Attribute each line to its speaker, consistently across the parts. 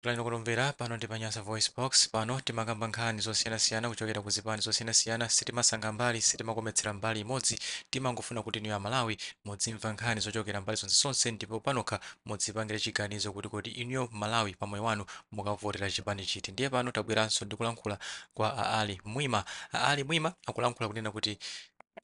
Speaker 1: Pulani kutumvera, pano ndi pa Nyasa VoiceBox, pano timakamba nkhani zosiyanasiyana kuchokera ku zipani zosiyanasiyana, sitimasankha mbali, sitimakometsera mbali imodzi, timangofuna kuti inuyo Amalawi muzimva nkhani zochokera mbali zonsezonse ndipo panokha muzipangire chiganizo kuti kodi inuyo Mmalawi pa moyo wanu mukavotera chipani chiti. Ndiye pano tabweranso ndi kulankhula kwa a Ali Mwima. A Ali Mwima akulankhula kunena kuti.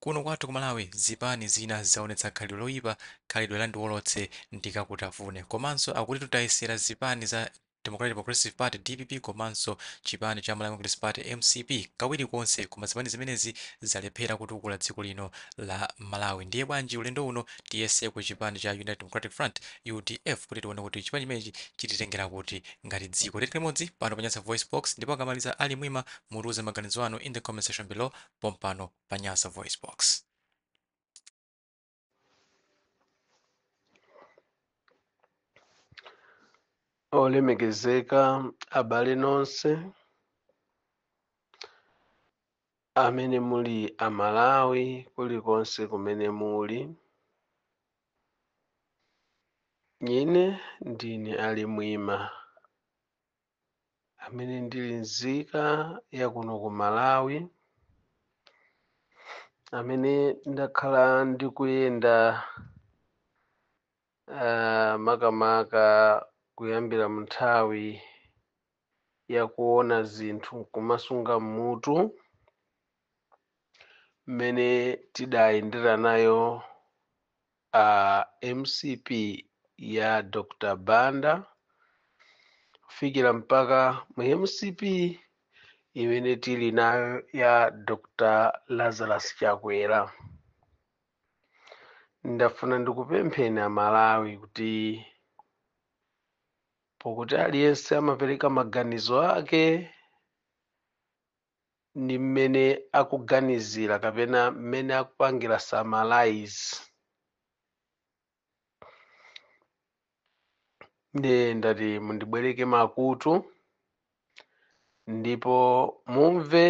Speaker 1: Kuno kwathu ku Malawi zipani zina zaonetsa khalidwe loyipa, khalidwe la ndiwolotse ndikakutafune. Komanso akuti taziyesera zipani za Democratic Progressive Party, dpp, komanso chipani cha Malawi Congress Party, mcp, kawiri konse koma zipani zimenezi zalephera kutukula dziko lino la Malawi. Ndiye bwanji ulendo uno tiyeseko chipani cha United Democratic Front, udf, kuti tione kuti chipani chimenechi chititengera kuti ngati dziko. Tikhale limodzi pano pa Nyasa VoiceBox ndipo akamaliza a Ali Mwima mutiuze maganizo anu in the comment section below. pompano pa nyasa voice
Speaker 2: box olemekezeka abale nonse amene muli amalawi kulikonse kumene muli ine ndine ali mwima amene ndili nzika ya kuno ku Malawi, amene ndakhala ndikuyenda ah, makamaka kuyambira mu nthawi ya kuona zinthu nkumasunga m'mutu mmene tidayendera nayo Aaa mcp ya Dr Banda kufikira mpaka mu mcp imene tili nayo ya Dr Lazarus Chakwera. Ndafuna ndikupempheni Amalawi kuti pokuti aliyense amapereka maganizo ake ndi mmene akuganizira kapena mmene akupangira summarize ndiye ndati mundibwereke makutu ndipo mumve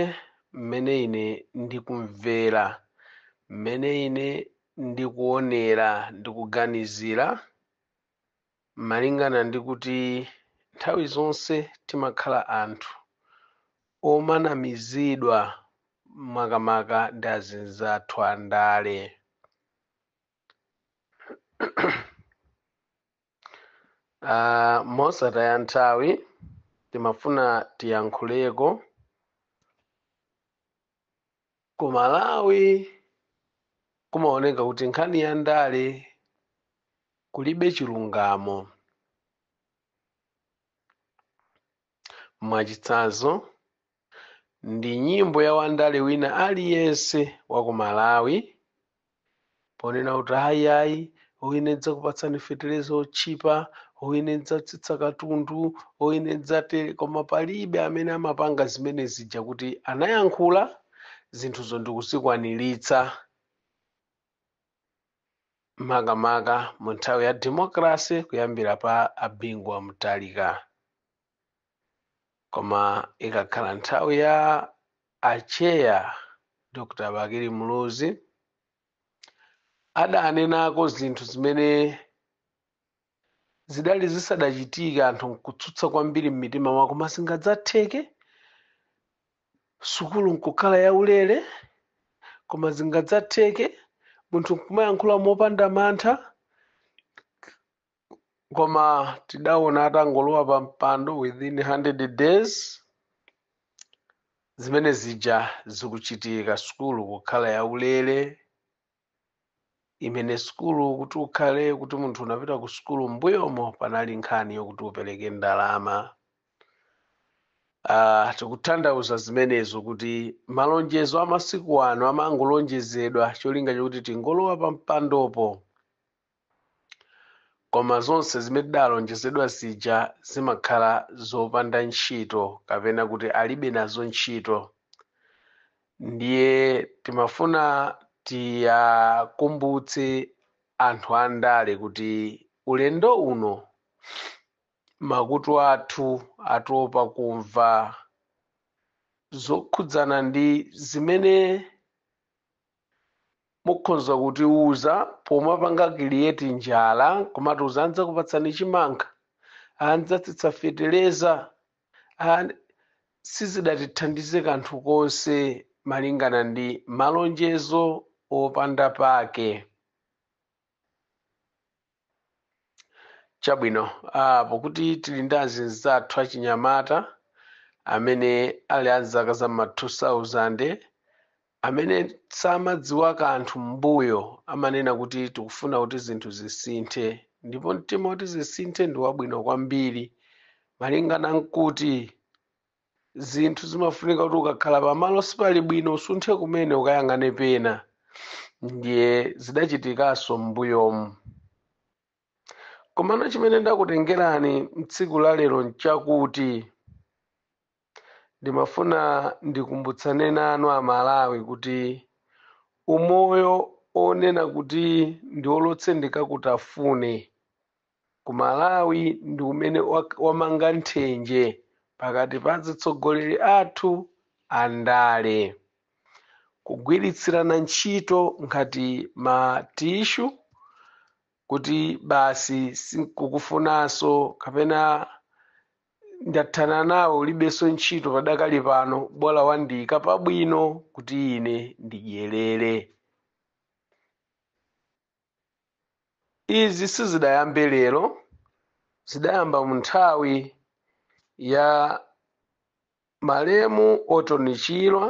Speaker 2: mmene ine ndikumvera mmene ine ndikuonera ndikuganizira Malingana ndi kuti nthawi zonse timakhala anthu omanamizidwa makamaka ndi azinzathu a ndale. Aaa mosataya nthawi timafuna tiyankhuleko ku malawi kumaoneka kuti nkhani ya ndale kulibe chilungamo mwachitsanzo ndi nyimbo ya wandale wina aliyense wa ku malawi ponena kuti ayi ayi o ine ndzakupatsani feteleza otchipa o ine ndzatsitsa katundu o ine ndzatere koma palibe amene amapanga zimene zija kuti anayankhula zinthuzo ndikuzikwaniritsa makamaka mu nthawi ya democracy kuyambira pa abingu wa Mutharika koma ikakhala nthawi ya atcheya dr bakili muluzi adanenako zinthu zimene zidali zisadachitika anthu nkutsutsa kwambiri m'mitima mwao koma zingadzatheke sukulu nkukhala yaulere koma zingadzatheke munthu nkumayankhula mopanda mantha koma tidaona atangolowa pa mpando within 100 days zimene zija zikuchitika sukulu kukhala yaulere imene sukulu kuti ukhale kuti munthu unapita ku sukulu mbuyomo panali nkhani yokuti upereke ndalama uh, tikutanthauza zimenezo kuti malonjezo amasiku ano amangolonjezedwa cholinga chokuti tingolowa pa mpandopo Koma zonse zimene tidalonjezedwa zija zimakhala zopanda ntchito kapena kuti alibe nazo ntchito. Ndiye timafuna tiwakumbutse anthu andale kuti ulendo uno makutu athu atopa kumva zokhudzana ndi zimene Mukhoza kutiuza pomapanga create njala nkumatiuza ndzakupatsani chimanga, ndzatsitsa feteleza and sizidatithandize kanthu konse malingana ndi malonjezo opanda pake. Chabwino, ah, pokuti tili ndi azinzathu achinyamata amene ali a zaka za ma 2000 amene samadziwa kanthu m'mbuyo, amanena kuti tikufuna kuti zinthu zisinthe, ndipo mtima woti zisinthe ndi wabwino kwambiri, malingana nkuti. zinthu zimafunika kuti ukakhala pamalo sipali bwino usunthe kumene ukayang'ane pena ndiye zidachitikanso m'mbuyomu komano chimene ndakutengerani mtsiku la lero nchakuti ndimafuna ndikumbutsane nanu amalawi kuti umoyo onena kuti ndiolotse ndikakutafune ku Malawi ndi umene wamanga nthenje pakati pa azitsogoleri athu a ndale. Kugwiritsirana ntchito ngati ma tishu kuti basi sindikukufunanso kapena ndathana nawe ulibenso ntchito padakali pano bola wandiika pabwino kuti ine ndidyerere. Izi sizidayambe lero, zidayamba mu nthawi ya malemu Orton Chirwa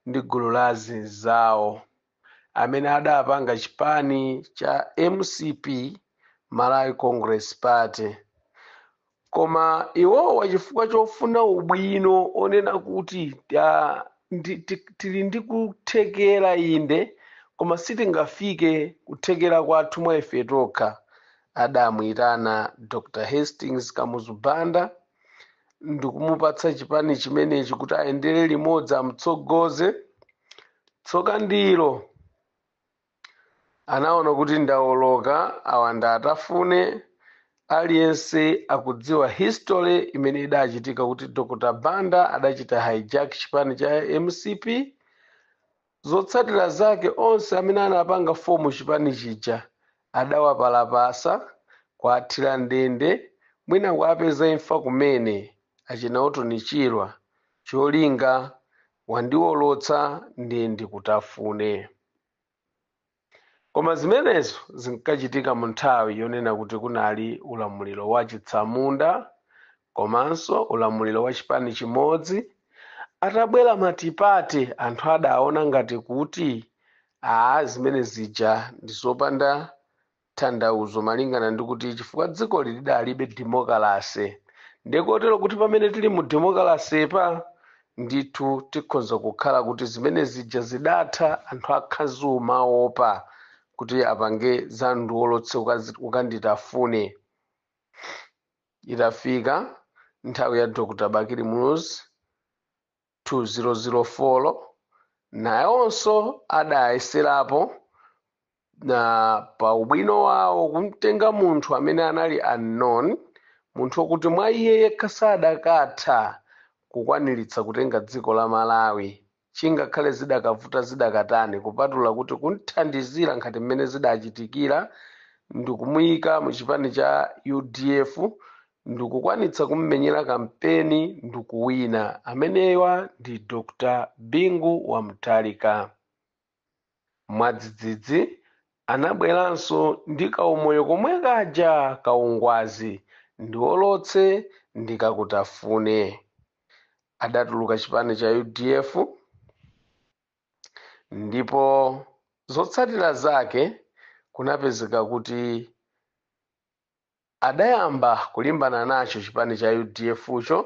Speaker 2: ndi gulu la azinzawo amene adapanga chipani cha mcp, Malawi Congress Party. koma iwowa chifukwa chofuna ubwino onena kuti tili ndi kuthekera inde koma sitingafike kuthekera kwathu mwa ife tokha adamuyitana dr hastings kamuzu banda ndikumupatsa chipani chimenechi kuti ayendere limodzi amtsogoze tsoka ndilo Anaona kuti ndawoloka awa ndiwatafune aliyense akudziwa history imene idachitika kuti Dr Banda adachita hijack chipani cha mcp zotsatira zake onse amene anapanga fomu chipani chija adawapalapasa kuwathira ndende mwina kuwapeza imfa kumene achina Orton Chirwa cholinga wandiwolotsa ndiye ndikutafune. Koma zimenezo zinkachitika mu nthawi yonena kuti kunali ulamuliro wa chitsamunda komanso ulamuliro wa chipani chimodzi. Atabwera matipate anthu adaona ngati kuti aa zimene zija ndi zopanda tanthauzo malingana ndi kuti chifukwa dzikoli lidalibe demokalase ndiye kotero kuti pamene tili mu demokalasepa ndithu tikhonza kukhala kuti zimene zija zidatha anthu akhazimaopa kuti apange za ndiwolotse ukanditafune itafika nthawi ya dr bakili muluzi 2004 naonso adayeserapo na pa ubwino wawo kumtenga munthu amene anali unknown munthu okuti mwa iye yekha sadakatha kukwaniritsa kutenga dziko la malawi chingakhale zidakavuta zidakatani kupatula kuti kumthandizira ngati mmene zidachitikira ndikumuyika mu chipani cha udf ndikukwanitsa kummenyera kampeni ndikuwina amenewa ndi Dr Bingu wa Mutharika. Mwadzidzidzi anabweranso ndi kaumoyo komwe kaja kaungwazi ndiwolotse ndikakutafune. Adatuluka chipani cha udf ndipo zotsatira zake kunapezeka kuti Adayamba kulimbana nacho chipani cha udfcho,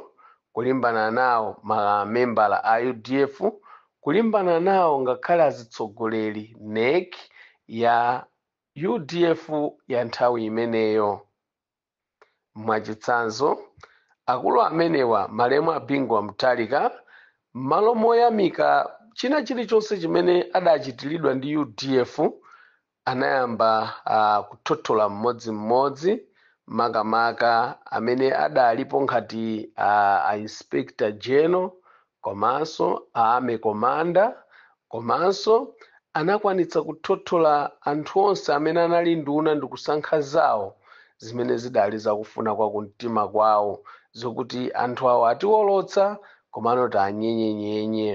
Speaker 2: kulimbana nawo mamembala a udf, kulimbana nawo ngakhale azitsogoleri, nec, ya udf ya nthawi imeneyo. Mwachitsanzo, akulu amenewa, malemu a Bingu wa Mutharika, mmalo moyamika china chilichonse chimene adachitiridwa ndi udf, Anayamba kuthothola mmodzi mmodzi makamaka amene adalipo ngati a Inspector General komanso a Army Commander komanso anakwanitsa kuthothola anthu onse amene anali nduna ndikusankha zawo zimene zidali zakufuna kwa kumtima kwawo zokuti anthu awo atiwolotsa komano tianyenyenyenye.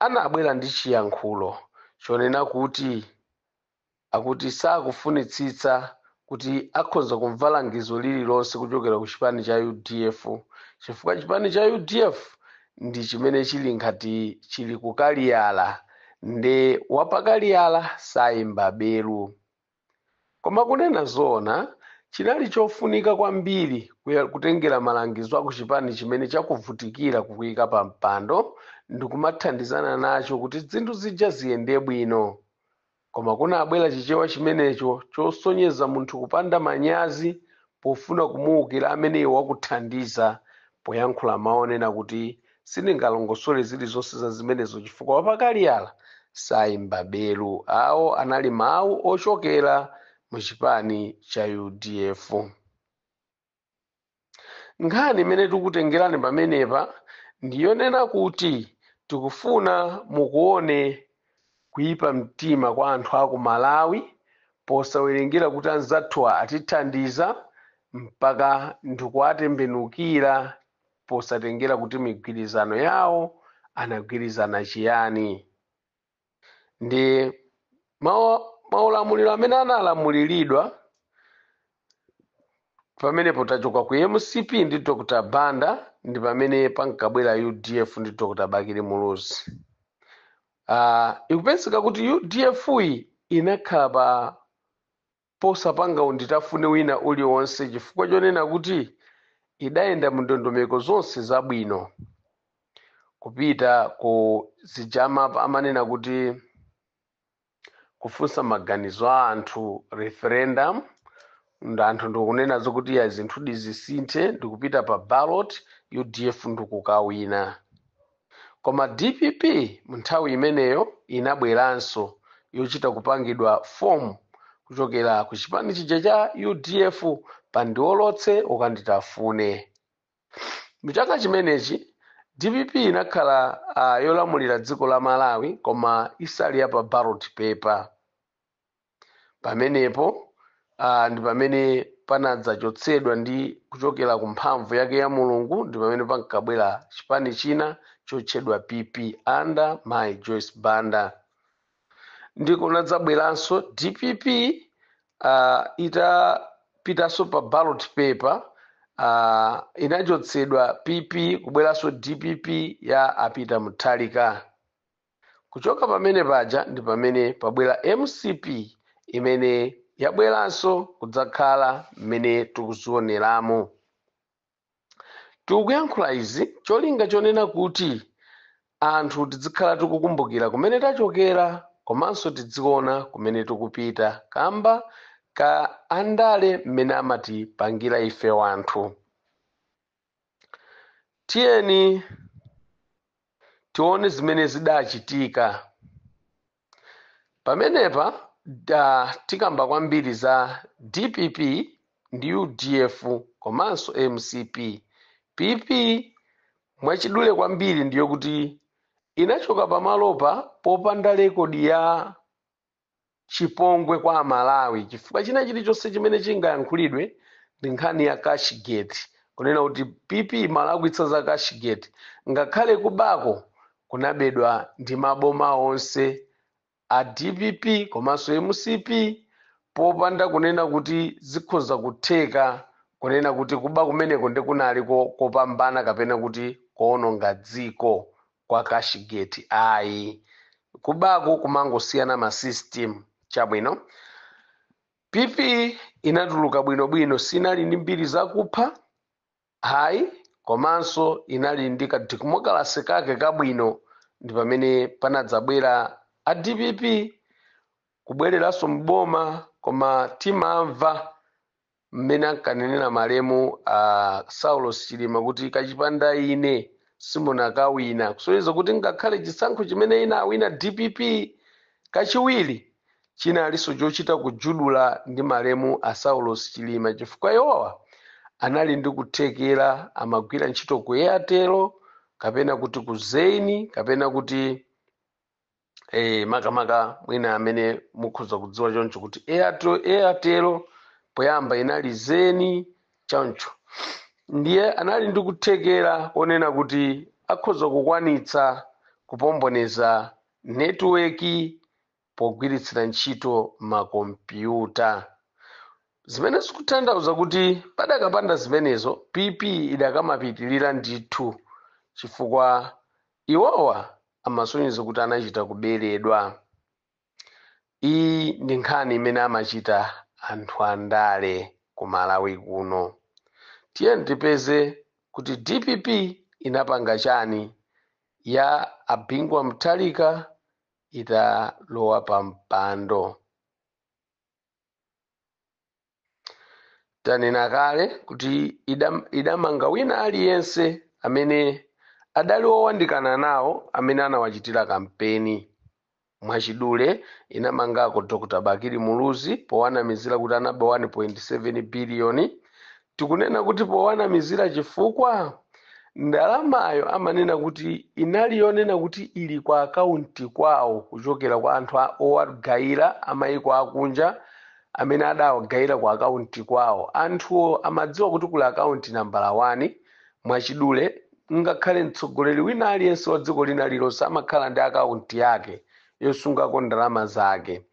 Speaker 2: anabwera ndi chiyankhulo chonena kuti akuti sakufunitsitsa kuti akhonza kumva langizo lililonse kuchokera ku chipani cha udf chifukwa chipani cha udf ndi chimene chili ngati chili kukaliyala nde wapakaliyala sayimba belu Koma kunena zoona, chinali chofunika kwambiri kutengera malangizo a kuchipani chimene chakuvutikira kukuika pampando ndi kumathandizana nacho kuti zinthu zija ziyende bwino. Koma kunabwera Chichewa chimenecho chosonyeza munthu kupanda manyazi Pofuna kumuukira ameneyo wakuthandiza poyankhula mawu onena kuti sindingalongosole zilizonse za zimenezo chifukwa wapakaliyala sayimba belu, awo anali mawu ochokera mu chipani cha udf. Nkhani imene tikutengerani pamenepa ndiyonena kuti tikufuna mukuone Kuipa mtima kwa anthu aku Malawi posawerengera kuti anzathuwa atithandiza mpaka ndikuwatembenukira posatengera kuti migwirizano yawo anagwirizana chiyani ndi maulamuliro amene analamuliridwa pamenepo tachoka ku mcp ndi dr banda ndi pamene pankabwera udf ndi dr bakili muluzi uh, ikupezeka kuti udf yi inakhala pa posapanga unditafuna wina uliwonse chifukwa chonena kuti idayenda mu ndondomeko zonse zabwino kupita ku zijazi amanena kuti kufunsa maganizo a anthu referendum anthu ndikunena zokuti iya zinthu zisinthe ndikupita pa ballot udf ndikukawina koma dpp munthawi imeneyo inabweranso yochita kupangidwa form kuchokera ku chipani chija cha udf pandiolotse ukanditafune Mu chaka chimenechi dpp inakhala uh, yolamulira dziko la Malawi koma isali ya pa ballot paper. Pamenepo uh, ndi pamene panadzachotsedwa ndi kuchokera ku mphamvu yake ya Mulungu ndi pamene pankabwera chipani china chotchedwa PP under mayi Joyce Banda. ndi kunadzabweranso dpp uh, itapitanso pa ballot paper uh, inachotsedwa pp kubweranso dpp ya a Peter Mutharika kuchoka pamene paja ndi pamene pabwera mcp imene yabweranso kudzakhala mmene tikuzioneramo Tikuyankhula izi cholinga chonena kuti anthu tidzikhala tikukumbukira kumene tachokera komanso tidziona kumene tikupita kamba ka andale mmene amatipangira ife wanthu. Tiyeni tione zimene zidachitika. Pamenepa tikamba kwambiri za dpp ndi udf komanso mcp. PP mwachidule kwambiri ndiyo kuti inachoka pamalopa popanda lekodi ya chipongwe kwa amalawi chifukwa china chilichonse chimene chingayankhulidwe ndi nkhani ya cashgate kunena kuti pp munalakwitsa za cashgate ngakhale kubako kunabedwa ndi maboma onse a dpp komanso mcp popanda kunena kuti zikhoza kutheka kunena kuti kuba kumeneko ndi kunali ko- kopambana kapena kuti koononga dziko kwa Cashgate ayi kubako kumangosiyana ma system chabwino pp inatuluka bwinobwino sinali ndi mbiri zakupha Ayi, komanso inali ndi ka demokalase kake kabwino ndi pamene panadzabwera a dpp kubwereranso m'boma koma timamva m'mene ankanenera malemu a Saulos Chilima kuti kachipanda ine simunakawina kusonyeza kuti ngakhale chisankho chimene inawina dpp kachiwiri Chinalinso chochita kujudula ndi malemu a Saulos Chilima chifukwa iwowa anali ndi kuthekera amagwira ntchito ku Airtel kapena kuti ku Zain kapena kuti eh, makamaka mwina amene mukhoza kudziwa choncho kuti Airtel poyamba inali Zain choncho ndiye anali ndi kuthekera konena kuti akhoza kukwanitsa kupomboneza netiweki pogwiritsira ntchito makompyuta, zimene zikutanthauza kuti padakapanda zimenezo PP idakamapitirira ndithu chifukwa iwowa amasonyeza kuti anachita kuberedwa. Iyi ndi nkhani imene amachita anthu andale ku Malawi kuno. Tiyeni tipeze kuti dpp inapanga chani ya a Bingu wa Mutharika italowa pa mpando tanena kale kuti idamanga wina aliyense amene adali owandikana nawo amene anawachitira kampeni mwachidule inamangako dr bakili muluzi powanamizira kuti anaba 1.7 biliyoni Tikunena kuti powanamizira chifukwa ndalamayo amanena kuti inali yonena kuti ili ku akaunti kwawo kuchokera kwa anthu owagaira a mayiko akunja amene adawagaira ku akaunti kwawo. Anthuwo amadziwa kuti kuli akaunti nambala wani. Mwachidule, ngakhale mtsogoleri wina aliyense wa dziko lina lilonse amakhala ndi akaunti yake yosungako ndalama zake.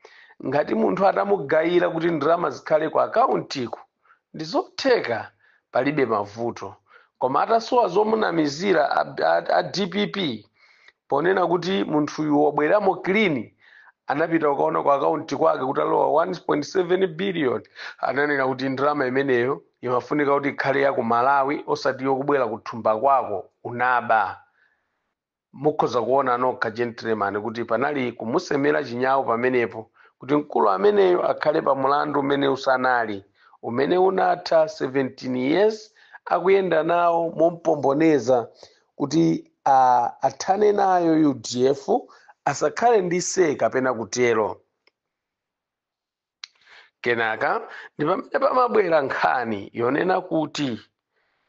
Speaker 2: Ngati munthu atamugaira kuti ndalama zikhale ku akauntiku, ndizotheka palibe mavuto koma atasowa zomunamizira a dpp ponena kuti munthuyu wabweramo clean anapita ukaona ku akaunti kwake kutalowa 1.7 billion ananena kuti ndalama imeneyo imafunika kuti ikhale ya ku malawi osati yokubwera kuthumba kwako unaba Mukhoza kuona nokha gentleman kuti panali kumusemera chinyau pamenepo kuti mkulu ameneyo akhale pa mulandu umene usanali, umene unatha 17 years akuyenda nawo mompomboneza kuti a athane nayo udf asakhale ndi say kapena kutero. kenaka ndi pamene pamabwera nkhani yonena kuti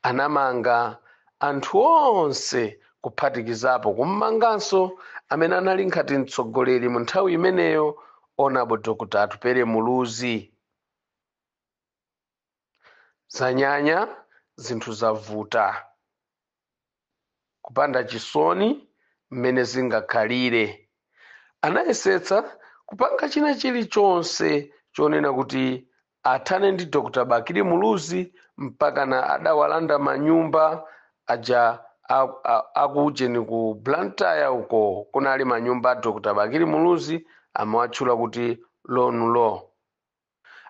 Speaker 2: anamanga anthu onse kuphatikizapo kummanganso amene anali nkhati mtsogoleri mu nthawi imeneyo honourable dr atupele muluzi zanyanya zinthu zavuta kupanda chisoni mmene zingakhalire anayesetsa kupanga china chilichonse chonena kuti athane ndi dr bakili muluzi mpaka na adawalanda manyumba aja a- a- akuujeni ku blantyre uko kunali manyumba a dr bakili muluzi amawatchula kuti lonu law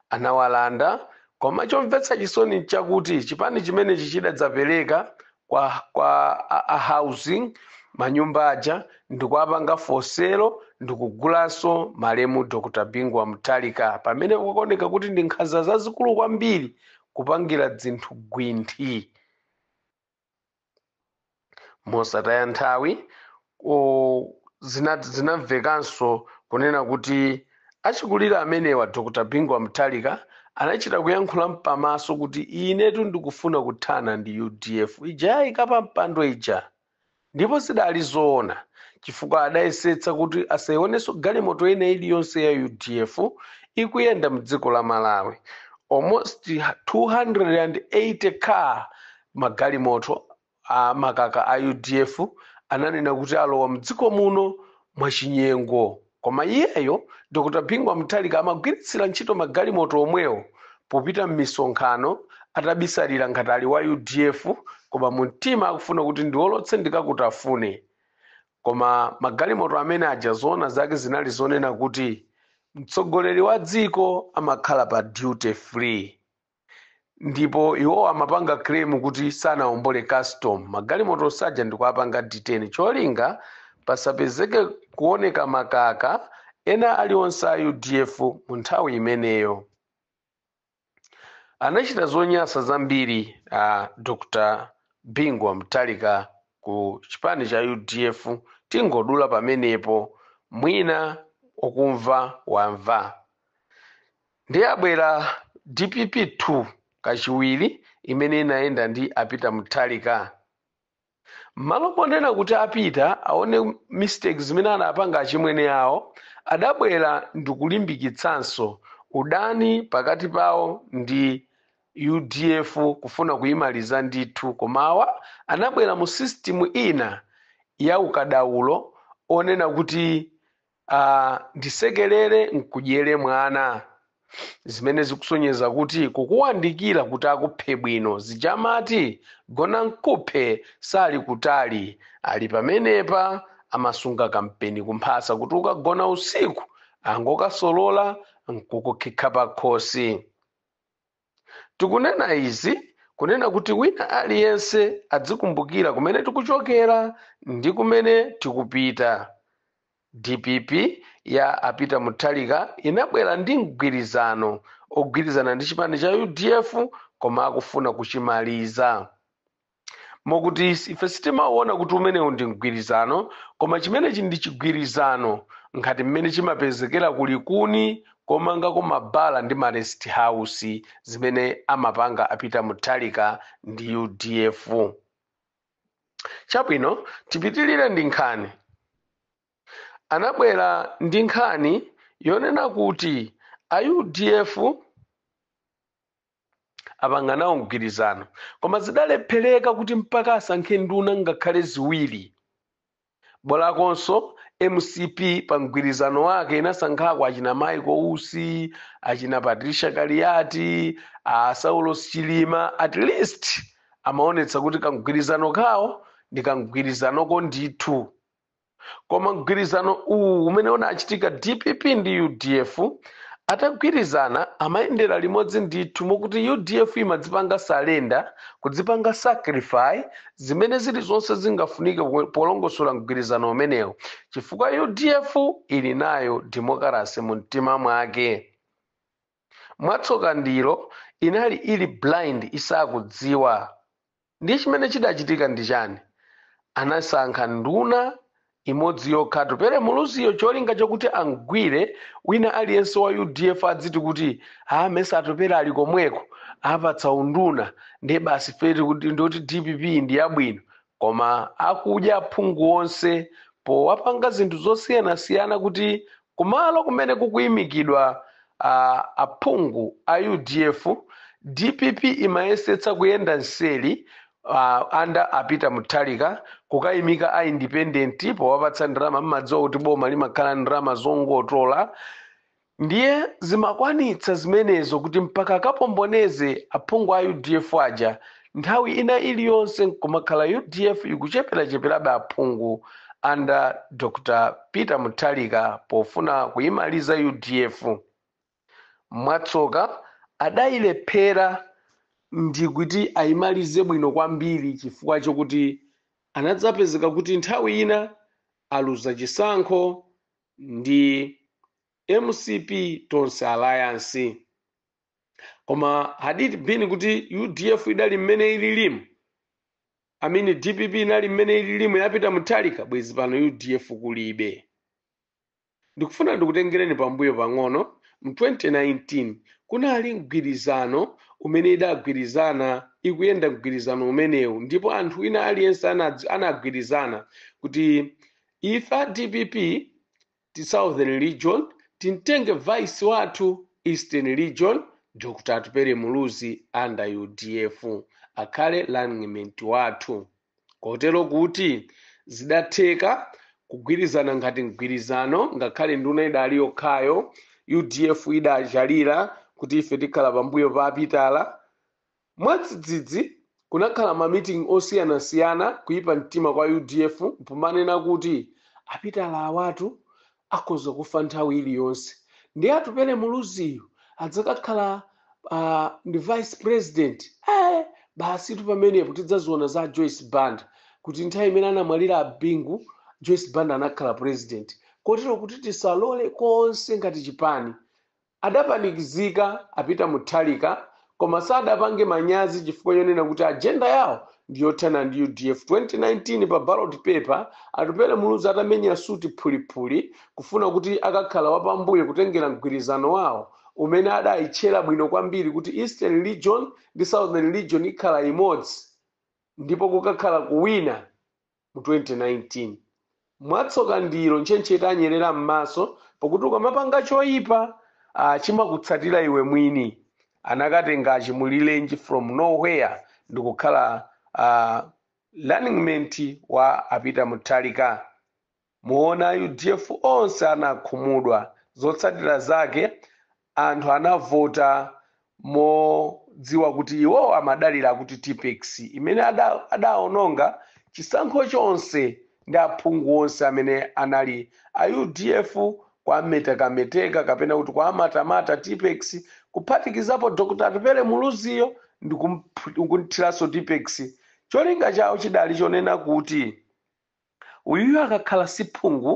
Speaker 2: anawalanda koma chomvetsa chisoni nchakuti chipani chimenechi chidadzapeleka kwa kwa a, a housing manyumba aja ndikuwapanga for sale ndikugulanso malemu Dr Bingu wa Mutharika pamene kukuoneka kuti ndi nkhanza zazikulu kwambiri kupangira zinthu gwinthi mosataya nthawi o, zina- zinamvekanso kunena kuti achikulire amenewa dr bingu wa mutharika anachita kuyankhula mpamaso kuti inetu ndikufuna kuthana ndi udf ija yayika pa mpando ija ndipo zidali zoona chifukwa adayesetsa kuti asayionenso galimoto ina iliyonse ya udf ikuyenda mdziko la malawi almost 280 cars magalimoto a makaka a udf ananena kuti alowa mdziko muno mwachinyengo koma iyeyo dr bingu wa mutharika amagwiritsira ntchito magalimoto omwewo popita m'misonkhano atabisalira ngati ali wa udf koma mu mtima akufuna kuti ndiwolotse ndikakutafune koma magalimoto amene aja zoona zake zinali zonena kuti mtsogoleri wa dziko amakhala pa duty free ndipo iwo amapanga claim kuti sanaombole custom magalimoto onse aja ndikuapanga detain cholinga pasapezeke kuoneka makaka ena alionse a udf mu nthawi imeneyo anachita zonyasa zambiri a dr bingu wa mutharika ku chipani cha udf tingodula pamenepo mwina wakumva wamva Ndiye abwera dpp 2 kachiwiri imene inayenda ndi a Peter Mutharika. Malo ponena kuti a Peter aone mistake zimene anapanga achimwene awo adabwera ndikulimbikitsanso udani pakati pawo ndi udf kufuna kuyimaliza ndithu koma awa anabwera mu system ina ya ukadaulo onena kuti Ndisekelere n'kudyere mwana, zimene zikusonyeza kuti kukuwandikira kuti akuphe bwino zija amati, Gona n'kuphe sali kutali, ali pamenepa amasunga kampeni kumphasa kuti ukagona usiku angokasolola n'kukukhikha pakhosi. Tikunena izi kunena kuti wina aliyense adzikumbukira kumene tikuchokera ndi kumene tikupita. Dpp ya a Peter Mutharika inabwera ndi mgwirizano ogwirizana ndi chipani cha udf koma akufuna kuchimaliza. mokuti ife sitimawona kuti umenewu ndi mgwirizano koma chimenechi ndi chigwirizano ngati mmene chimapezekera kulikuni komanga kumabala ndi ma rest house zimene amapanga a Peter Mutharika ndi udf chabwino tipitirire ndi nkhani anabwera ndi nkhani yonena kuti a udf apangana nawo mgwirizano koma zidalephereka kuti mpaka asankhe nduna ngakhale ziwiri bolakonso mcp pa mgwirizano wake inasankhako achina Michael Usi achina patricia kaliati a saulos chilima at least amaonetsa kuti kamgwirizano kawo ndi kamgwirizanoko ndithu koma mgwirizano uwu umene unachitika dpp ndi udf atagwirizana amayendera limodzi ndithu mokuti udf imadzipanga surrender kudzipanga sacrifice zimene zilizonse zingafunike polongosola mgwirizano umenewu chifukwa udf ili nayo demokarasi mu mtima mwake Mwatsoka ndilo inali ili blind isakudziwa. Ndiye chimene chidachitika ndi chani? Anasankha nduna imodzi yokha Atupele Muluziyo cholinga chokuti amgwire wina aliyense wa udf adziti kuti ah mesa Atupele ali komweko apatsa unduna ndiye basi ife tikuti ndiye kuti dpp ndi yabwino. Koma akudya aphungu onse powapanga zinthu zosiyanasiyana kuti kumalo kumene kukuimikidwa aphungu a udf, dpp imayesetsa kuyenda mseri under a Peter Mutharika kukaimika a independent powapatsa ndalama mmadziwa kuti boma limakhala n'ndalama zongotola, Ndiye zimakwanitsa zimenezo kuti mpaka akapomboneze aphungu a udf aja nthawi ina iliyonse kumakhala udf ikucheperacheperabe aphungu under Dr Peter Mutharika pofuna kuyimaliza udf. Mwatsoka adayilephera ndikuti ayimalize bwino kwambiri chifukwa chokuti anadzapezeka kuti nthawi ina aluza chisankho ndi mcp tonse alliance koma had it been kuti udf idali mmene ililimu amene dpp inali mmene ililimu ya a Peter Mutharika bwezi pano udf kulibe ndikufuna ndikutengereni pambuyo pang'ono mu 2019 kunali mgwirizano umene idagwirizana ikuyenda mgwirizano umenewu ndipo anthu wina aliyense anadz- anagwirizana kuti Ife a dpp ti southern region timtenge vice wathu eastern region Dr Atupele Muluzi under udf akhale runningmate wathu kotero kuti zidatheka kugwirizana ngati mgwirizano ngakhale nduna idali yokhayo udf idachalira kuti ife tikhala pambuyo pa a Pitala Mwadzidzidzi kunakhala ma meeting osiyanasiyana kuipa mtima kwa udf pomanena kuti a Pitala awatu akhoza kufa nthawi iliyonse ndiye atupele Muluziyu adzakakhala a ndi vice president ee basitu pamenepo tidzaziona za a Joyce Banda kuti nthawi imene anamwalira a Bingu Joyce Banda anakhala president kotero kuti tisalole konse ngati chipani Adapanikizika a Peter Mutharika koma sadapange manyazi chifukwa chonena kuti agenda yawo ndi yothana ndi udf. 2019 pa ballot paper, Atupele Muluzi atamenya suit phuliphuli kufuna kuti akakhale wapambuyo kutengera mgwirizano wawo umene adayitchera bwino kwambiri kuti Eastern Region ndi Southern Region ikhala imodzi ndipo kukakhala kuwina mu 2019 mwatsoka ndilo ntchentche yanyerera m'maso pakuti ukamapanga choipa ah, chimakutsatira iwe mwini anakatenga a Chimulirenji from nowhere ndikukhala ah, running mate wa a Peter Mutharika muona udf onse anakhumudwa zotsatira zake Anthu anavota modziwa kuti iwowo amadalira kuti tippex imene adaononga chisankho chonse ndi aphungu onse amene anali a udf kuwametekameteka kapena kuti kuwamatamata tippex kuphatikizapo Dr Atupele Muluziyo ndikumthiranso tippex cholinga chawo chidali chonena kuti Uyuyu akakhala si phungu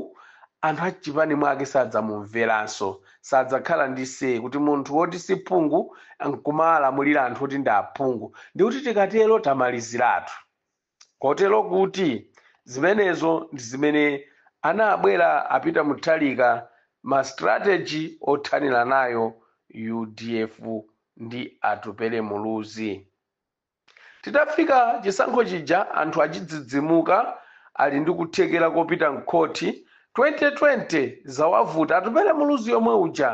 Speaker 2: anthu a mchipani mwake sadzamumveranso. Sadzakhala ndi say kuti munthu woti si phungu nkumawalamulira anthu oti ndi aphungu ndikuti tikatero tamaliziratu. Kotero kuti zimenezo ndi zimene anabwera a Peter Mutharika ma strategy othanira nayo udf ndi Atupele Muluzi. Titafika chisankho chija anthu achidzidzimuka ali ndi kuthekera kopita mkhoti 2020 zawavuta Atupele Muluzi yomwe uja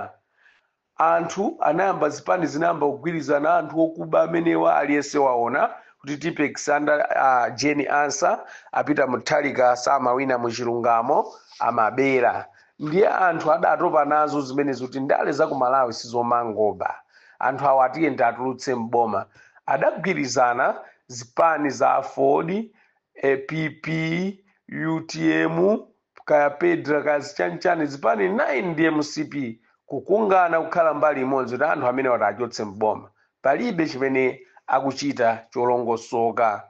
Speaker 2: anthu anayamba zipani zinayamba kugwirizana anthu okuba amenewa aliyese waona kuti Tippex under a Jane Ansah a Peter Mutharika samawina muchilungamo amabera ndiye anthu adatopa nazo zimenezi kuti ndale za ku malawi sizomangoba anthu awa tiyeni tiatulutse m'boma adagwirizana zipani za aford pp utm kaya petra kaya zichanchani zipani 9 ndi mcp kukungana kukhala mbali imodzi kuti anthu amenewa tiachotse m'boma palibe chimene akuchita cholongosoka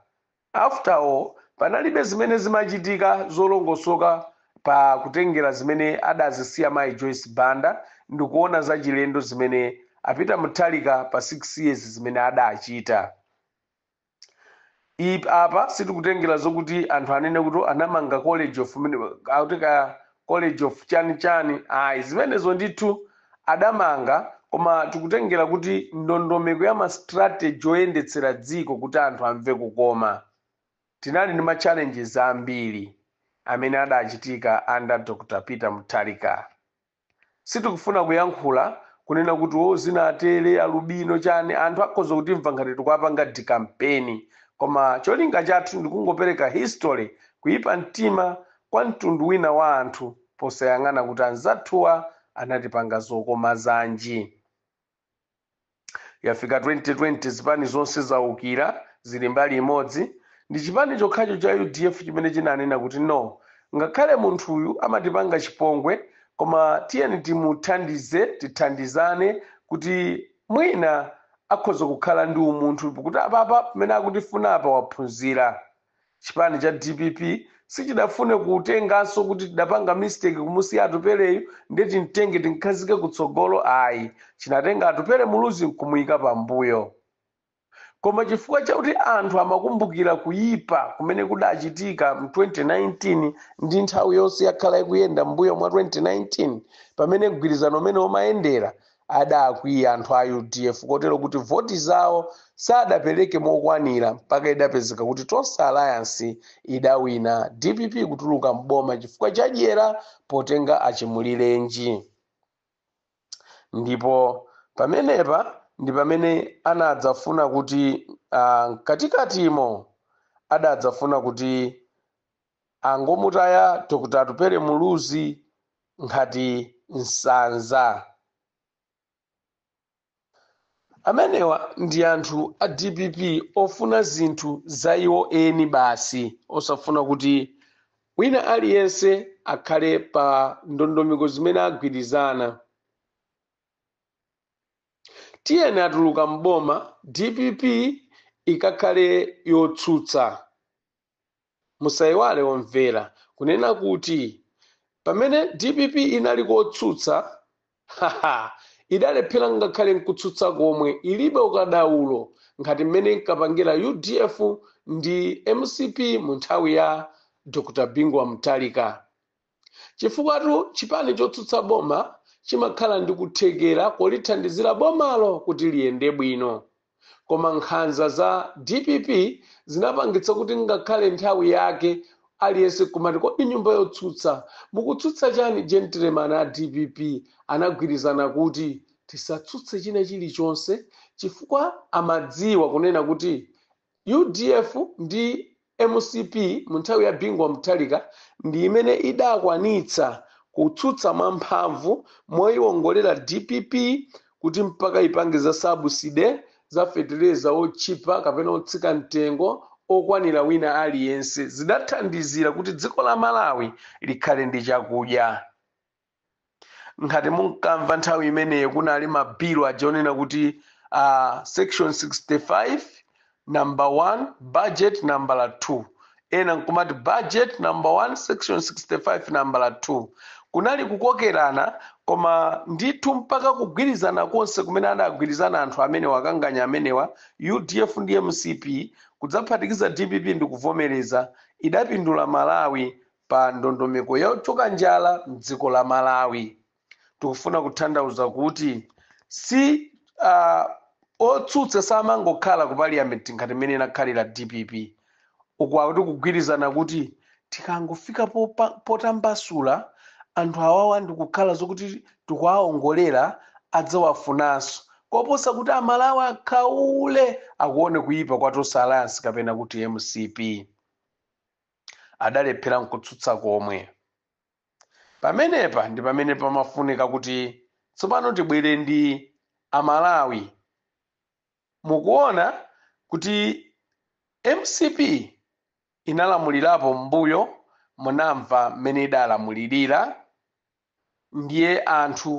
Speaker 2: After all panalibe zimene zimachitika zolongosoka pa kutengera zimene adazisiya mayi Joyce Banda ndikuona zachilendo zimene a Peter Mutharika pa 6 years zimene adachita. I, apa sitikutengera zokuti anthu anene kuti anamanga college of mne, akuti kaya College of chani chani ayi zimenezo ndithu adamanga koma tikutengera kuti ndondomeko ya ma strategy oyendetsera dziko kuti anthu amve kukoma tinali ndi ma challenges ambiri amene adachitika under Dr Peter Mutharika Sitikufuna kuyankhula, kunena kuti oh zinatere, alubino, chani, anthu akhoza kutimva ngati tikuwapanga dikampeni koma cholinga chathu ndikungopereka history, kuyipa mtima kwa mtundu wina wa anthu posayang'ana kuti anzathuwa anatipanga zokoma zanji. yafika 2020 zipani zonse zaukira zili mbali imodzi ndi chipani chokhacho cha udf chimene chinanena kuti no ngakhale munthuyu amatipanga chipongwe koma tiyeni timuthandize tithandizane kuti mwina akhoza kukhala ndi umunthu kuti apapa pamene akutifuna apa waphunzira Chipani cha dpp sichidafune kutenganso kuti tidapanga mistake kumusiya Atupeleyu ndiye timtenge timkhazike kutsogolo ayi, chinatenga Atupele Muluzi nkumuika pambuyo. Koma chifukwa chakuti anthu amakumbukira kuipa kumene kudachitika mu 2019 ndi nthawi yonse yakhala ikuyenda mmbuyo mwa 2019 pamene mgwirizano umenewo umayendera, Adakwiya anthu a udf kotero kuti voti zawo sadapereke mokwanira mpaka idapezeka kuti Tonse Alliance idawina, dpp kutuluka m'boma chifukwa cha dyera potenga a Chimulirenji. Ndipo pamenepa ndi pamene anadzafuna kuti ah, mkatikatimo adadzafuna kuti Angomutaya Dr Atupele Muluzi ngati nsanza. Amenewa ndi anthu a dpp ofuna zinthu za iwo eni basi osafuna kuti wina aliyense akhale pa ndondomeko zimene agwirizana. Tiyeni atuluka m'boma dpp ikakhale yotsutsa. Musaiwale omvera kunena kuti pamene dpp inali kotsutsa haha idalephera ngakhale nkutsutsa komwe ilibe ukadaulo ngati mmene inkapangira udf ndi mcp munthawi ya Dr Bingu wa Mutharika. Chifukwatu chipani chotsutsa boma chimakhala ndi kuthekera kolithandizira bomalo kuti liyende bwino. Koma nkhanza za dpp zinapangitsa kuti ngakhale nthawi yake aliyense kumati kodi nyumba yotsutsa mukutsutsa chani gentleman a dpp anagwirizana kuti tisatsutse china chilichonse chifukwa amadziwa kunena kuti Udf ndi mcp mu nthawi ya Bingu wa Mutharika ndi imene idakwanitsa kutsutsa mwa mphamvu moyiwongolera dpp kuti mpaka ipange za sabuside za fetereza otchipa kapena otsika mtengo okwanira wina aliyense. Zidathandizira kuti dziko la Malawi likhale ndi chakudya. ngati munkamva nthawi imeneyo kunali mabilu aja onena kuti uh, section 65 number 1 budget number 2 ena nkumati budget number 1 section 65 number 2 kunali kukokerana koma ndithu mpaka kugwirizana konse kumene adagwirizana anthu amenewa akanganya amenewa udf ndi mcp kudzaphatikiza dpp ndikuvomereza idapindula malawi pa ndondomeko yochoka njala mdziko la Malawi. Tikufuna kuthandauza kuti si uh, otsutsa samangokhala ku parliament ngati mmene inakhalira dpp uku akuti kugwirizana kuti tikangofika popa- potambasula anthu awawa ndikukhala zokuti tikuwaongolera adzawafunanso koposa kuti amalawi akhaule akuone kuyipa kwa Tonse Alliance kapena kuti mcp adalephera nkutsutsa komwe. Pamenepa ndi pamene pamafunika kuti tsopano tibwere ndi Amalawi. Mukuona kuti mcp inalamulirapo m'mbuyo, munamva mmene idalamulirira? Ndiye anthu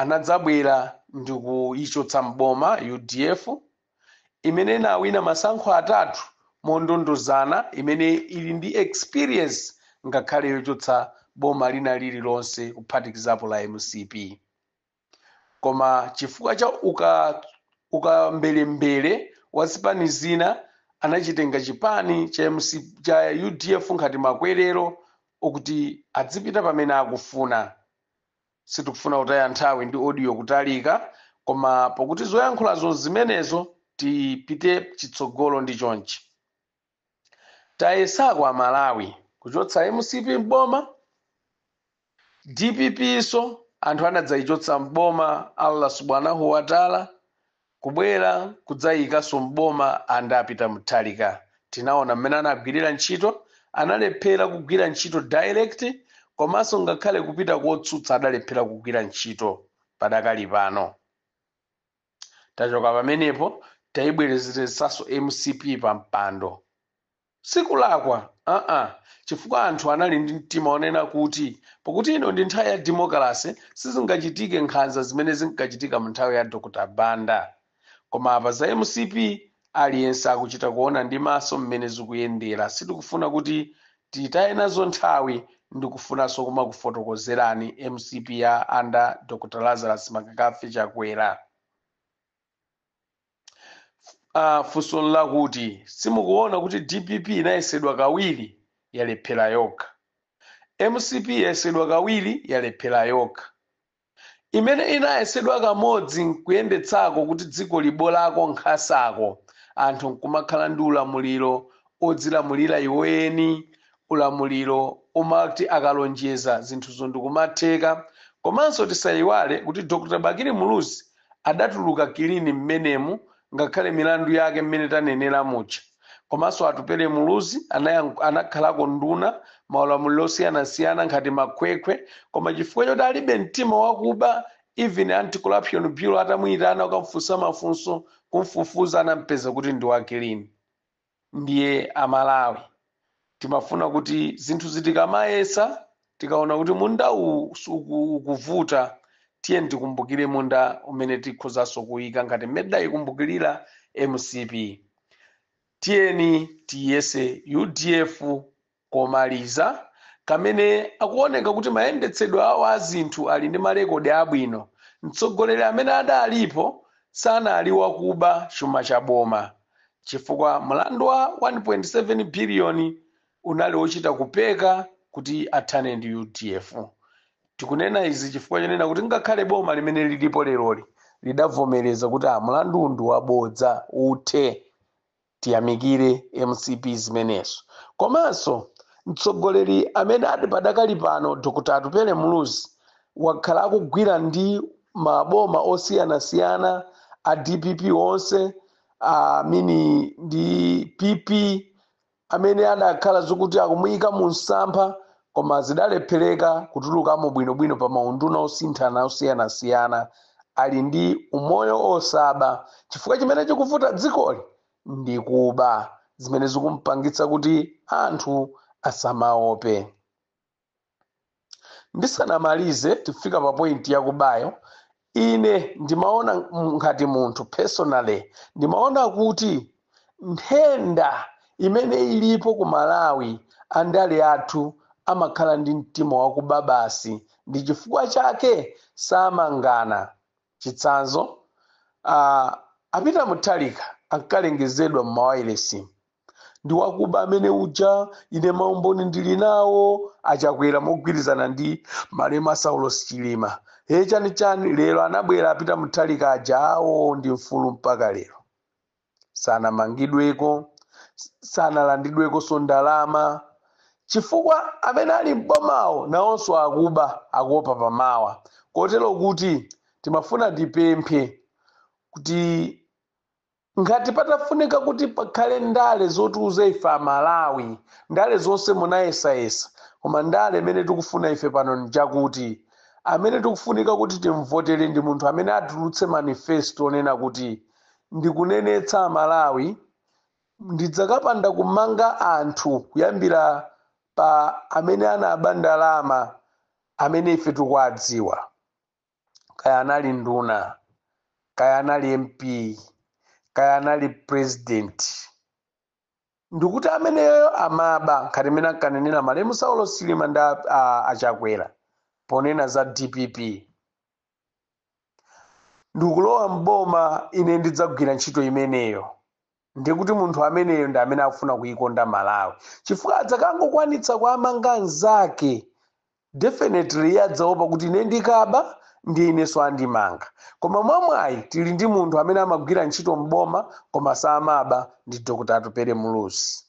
Speaker 2: anadzabwera ndikuyichotsa m'boma udf imene inawina masankho atatu mondondozana imene ili ndi experience ngakhale yochotsa boma lina lililonse kuphatikizapo la mcp. koma chifukwa cha ukambelembele wa zipani zina anachitenga chipani cha udf ngati makwerero okuti adzipita pamene akufuna sitikufuna kutaya nthawi ndi audio kutalika koma pokuti zoyankhulazo zimenezo tipite chitsogolo ndi chonchi Tayesako a Malawi kuchotsa mcp m'boma, dpp so anthu anadzaichotsa m'boma Allah subhanahu wa taala kubwera kudzaiikaso m'boma and a Peter Mutharika tinaona mmene anagwirira ntchito, analephera kugwira ntchito direct komaso ngakhale kupita kotsutsa adalephera kugwira ntchito padakali pano. tachoka pamenepo taibwerezeretsaso mcp pa mpando sikulakwa aa chifukwa anthu anali ndi mtima onena kuti pakuti ino ndi nthawi ya demokalase sizingachitike nkhanza zimene zinkachitika mu nthawi ya Dr Banda koma apa za mcp aliyense akuchita kuona ndi maso mmene zikuyendera sitikufuna kuti Titaye nazo nthawi ndikufunanso kumakufotokozerani mcp ya under Dr Lazarus McCarthy Chakwera. Funso nlakuti simukuona kuti dpp inayesedwa kawiri yalephera yokha, mcp yayesedwa kawiri yalephera yokha. imene inayesedwa kamodzi nkuyendetsako kuti dziko libolako nkhanzako anthu nkumakhala ndi ulamuliro odzilamulira iwo eni ulamuliro womati akalonjeza zinthuzo ndikumatheka komanso tisayiwale kuti Dr Bakili Muluzi adatuluka kilini mmenemu ngakhale milandu yake mmene tanenera muja komanso atupele muluzi anakhalako nduna maulamuliro osiyanasiyana ngati makhwekhwe koma chifukwa choti alibe mtima wakuba even anti corruption bureau atamuyitana kukamfunsa mafunso kumfufuza anampeza kuti ndi wakilini Ndiye a Malawi timafuna kuti zinthuzi tikamayesa tikaona kuti munda uwu ukuvuta tiyeni tikumbukire munda umene tikhozanso kuika ngati mmene tidayikumbukirira mcp. Tiyeni tiyese udf komaliza, amene akuoneka kuti mayendetsedwe awo a zinthu ali ndi malekodi abwino, mtsogoleri amene adalipo sanali wakuba chuma cha boma chifukwa mlandu wa 1.7 biliyoni unali wochita kupeka kuti athane ndi udf. Tikunena izi chifukwa chonena kuti ngakhale boma limene lilipo leroli lidavomereza kuti mlanduwu ndi wabodza, uthe. Tiyamikire mcp zimenezo. Komanso mtsogoleri amene ali padakali pano Dr Atupele Muluzi wakhala akugwira ndi maboma osiyanasiyana a dpp onse a mini ndi pp amene adakhala zokuti akumuyika mu msampha koma zidalephereka kutulukamo bwinobwino pa maunduna osinthana osiyanasiyana ali ndi umoyo osaba chifukwa chimene chikuvuta dzikoli ndi kuba zimene zikumpangitsa kuti anthu asamaope ndisanamalize tifika pa pointi yakubayo ine ndimaona ngati munthu personally ndimaona kuti nthenda imene ilipo ku malawi andale athu amakhala ndi mtima wakuba basi ndi chifukwa chake samangana chitsanzo uh, a Peter Mutharika ankalengezedwa m'mawailesi ndi wakuba amene uja ine maumboni ndili nawo a Chakwera mogwirizana ndi malemu Saulos chilima he chani chani lero anabwera a Peter Mutharika aja awo ndi mfulu mpaka lero sanamangidweko sanalandidwekonso ndalama chifukwa amene ali m'bomawo nawonso akuba akuopa pamawa kotero kuti timafuna tipemphe kuti Ngati patafunika kuti pakhale ndale zotiuza ife a Malawi, ndale zonse munayesayesa, koma ndale imene tikufuna ife pano n'njakuti, amene tikufunika kuti tim'votere ndi munthu amene atulutse manifesto onena kuti, ndikunenetsa a Malawi, ndidzakapanda kumanga anthu kuyambira pa amene anaba ndalama amene ife tikuwadziwa. kaya anali nduna kaya anali mp kaya anali president ndikuti ameneyo amaba ngati mmene ankanenera malemu Saulos Chilima ndi a- a- a Chakwera ponena za dpp ndikulowa m'boma ine ndidzagwira ntchito imeneyo ndiye kuti munthu ameneyo ndi amene akufuna kuikonda malawi chifukwa adzakangokwanitsa kuamanga anzake definitely iye adzaopa kuti ine ndikaba ndi inenso andimanga koma mwamwayi tili ndi munthu amene amagwira ntchito m'boma koma samaba ndi dr atupele muluzi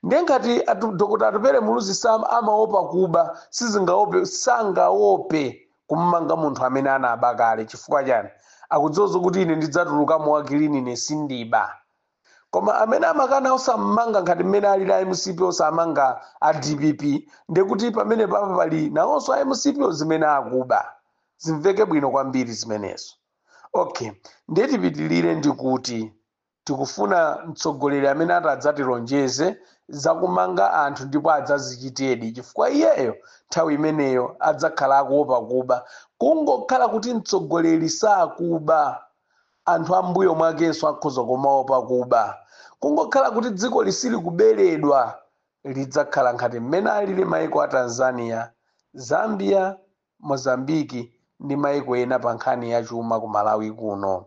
Speaker 2: Ndiye ngati atu, Dr. Atupele Muluzi sam amaopa kuba, sizingaope, sangaope kummanga munthu amene anaba kale chifukwa chani? Akudziwa zokuti ine ndidzatulukamo wakilini ine sindiba. Koma amene amakana osammanga ngati mmene alili a mcp osamanga a dpp ndekuti pamene pa pali nawonso a mcp zimene akuba. Zimveke bwino kwambiri zimenezo. Okay, ndiye tipitilire ndikuti. Tikufuna mtsogoleri amene atadzatilonjeze za kumanga anthu ndipo adzazichitedi chifukwa iyeyo nthawi imeneyo adzakhala akuopa kuba. Kungokhala kuti mtsogoleri sakuba, anthu ambuyo mwakenso akhoza kumaopa kuba. Kungokhala kuti dzikoli silikuberedwa, lidzakhala ngati mmene alili mayiko a Tanzania, Zambia, Mozambique ndi mayiko ena pa nkhani ya chuma ku Malawi kuno.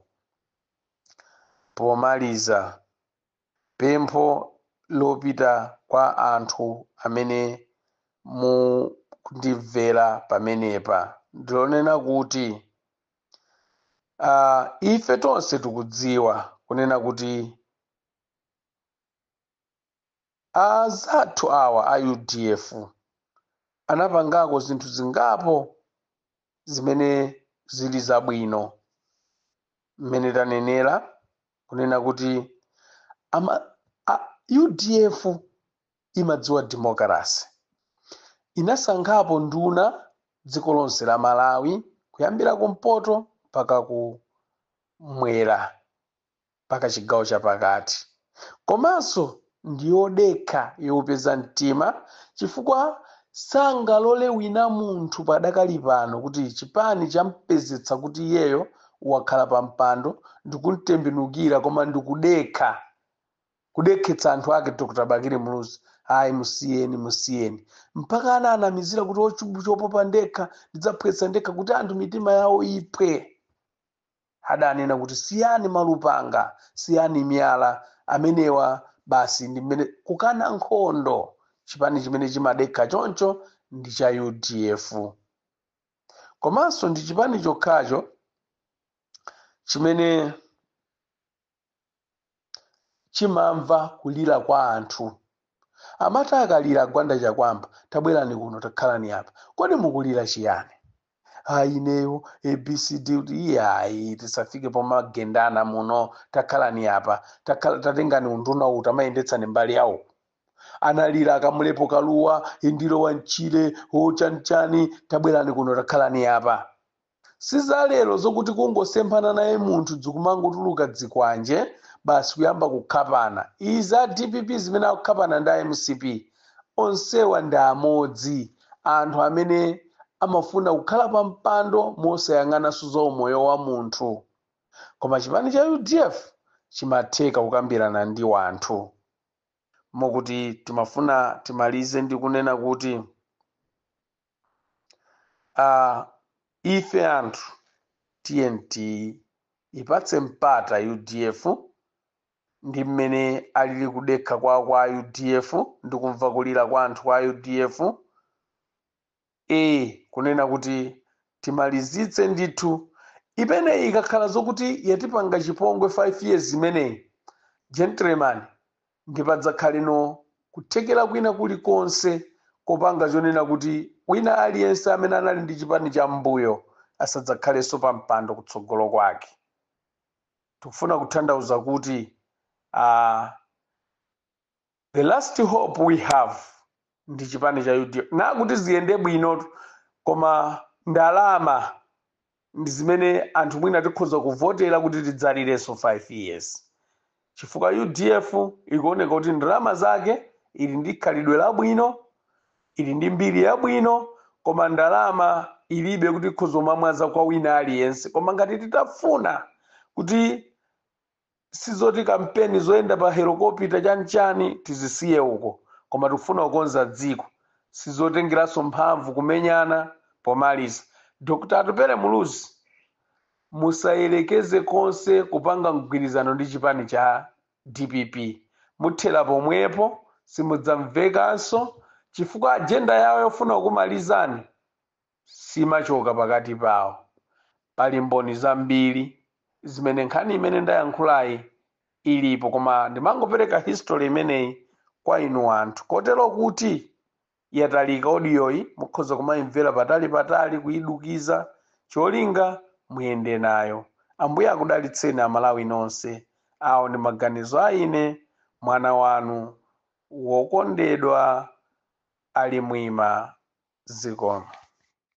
Speaker 2: Pomaliza, pempho lopita kwa anthu amene mukundimvera pamenepa ndilonena kuti, aah, ife tonse tikudziwa kunena kuti, Azathu awa a udf anapangako zinthu zingapo zimene zili zabwino mmene tanenera kunena kuti ama, a, udf imadziwa demokalase inasankhapo nduna dziko lonse la malawi kuyambira kumpoto mpaka ku mwera mpaka chigawo chapakati komanso ndi yodekha yougwira mtima chifukwa sangalole wina munthu padakali pano kuti chipani champezetsa kuti iyeyo wakhala pa mpando ndikumtembenukira koma ndikudekha kudekhetsa anthu ake dr bakili muluzi ayi musiyeni musiyeni mpaka anaanamizira kuti chubu chopopa ndekha ndidzaphwetsa ndekha kuti anthu mitima yawo iphwe Adanena kuti, Siyani malupanga, siyani miyala, amenewa basi ndi mmene kukana nkhondo chipani chimene chimadekha choncho ndi cha udf komanso ndi chipani chokhacho chimene. chimamva kulira kwa anthu amati akalira Gwanda Chakuamba tabwerani kuno takhalani apa kodi mukulira chiyani ayi ineyo abcd kuti iyayi tisafike pomagendana muno takhalani apa takhala tatengani unduna uwu tamayendetsani mbali yawo analira akamulepo kaluwa indiro wa nchire wo chanichani tabwerani kuno takhalani apa Si za lero zokuti kungosemphana naye munthu dzikumangotuluka dzikwanje basi kuyamba kukhapana. Izi a dpp zimene akukhapana ndi a mcp onsewa ndi amodzi anthu amene amafuna kukhala pa mpando mosayang'ananso za umoyo wa munthu. Koma chipani cha udf chimatheka kukambirana ndi wanthu. Mokuti timafuna timalize ndi kunena kuti. uh, ife anthu tinati tiipatse mpata udf ndi mmene alili kudekha kwawo kwa udf ndi kumva kulira kwa anthu kwa udf e kunena kuti timalizitse ndithu imeneyi ikakhala zokuti yatipanga chipongwe 5 years imeneyi gentleman Ndi padzakhaleno kuthekera kwina kuli konse kopanga chonena kuti wina aliyense amene anali ndi chipani cha mmbuyo asadzakhalenso pa mpando kutsogolo kwake. Tikufuna kuthandauza kuti a the last hope we have ndi chipani cha udf. Nakuti ziyende bwino koma ndalama. ndi zimene anthu mwina tikhoza kuvotera kuti tidzalirenso 5 years chifukwa udf ikuoneka kuti ndalama zake ili ndi khalidwe labwino ili ndi mbiri yabwino koma ndalama ilibe kuti ikhoza kumamwaza kwa wina aliyense koma ngati titafuna kuti sizoti kampeni zoyenda pa helokopita chani chani tizisiye uko koma tikufuna kukonza dziko sizotengeranso mphamvu kumenyana pomaliza Dr Atupele Muluzi musayelekeze konse kupanga mgwirizano ndi chipani cha dpp muthera pomwepo simudzamvekanso chifukwa ajenda yawo yofuna kukumalizani simachoka pakati pawo. Pali mboni zambiri zimene nkhani imene ndayankhulayi ilipo, koma ndimangopereka history imeneyi kwa inu anthu kotero kuti yatalika audioyi mukhoza kumaimvera patalipatali, kuidukiza, cholinga muyende nayo. Ambuye akudalitseni Amalawi nonse. Awo ndi maganizo a ine, mwana wanu. Wokondedwa Ali Mwima zikomo.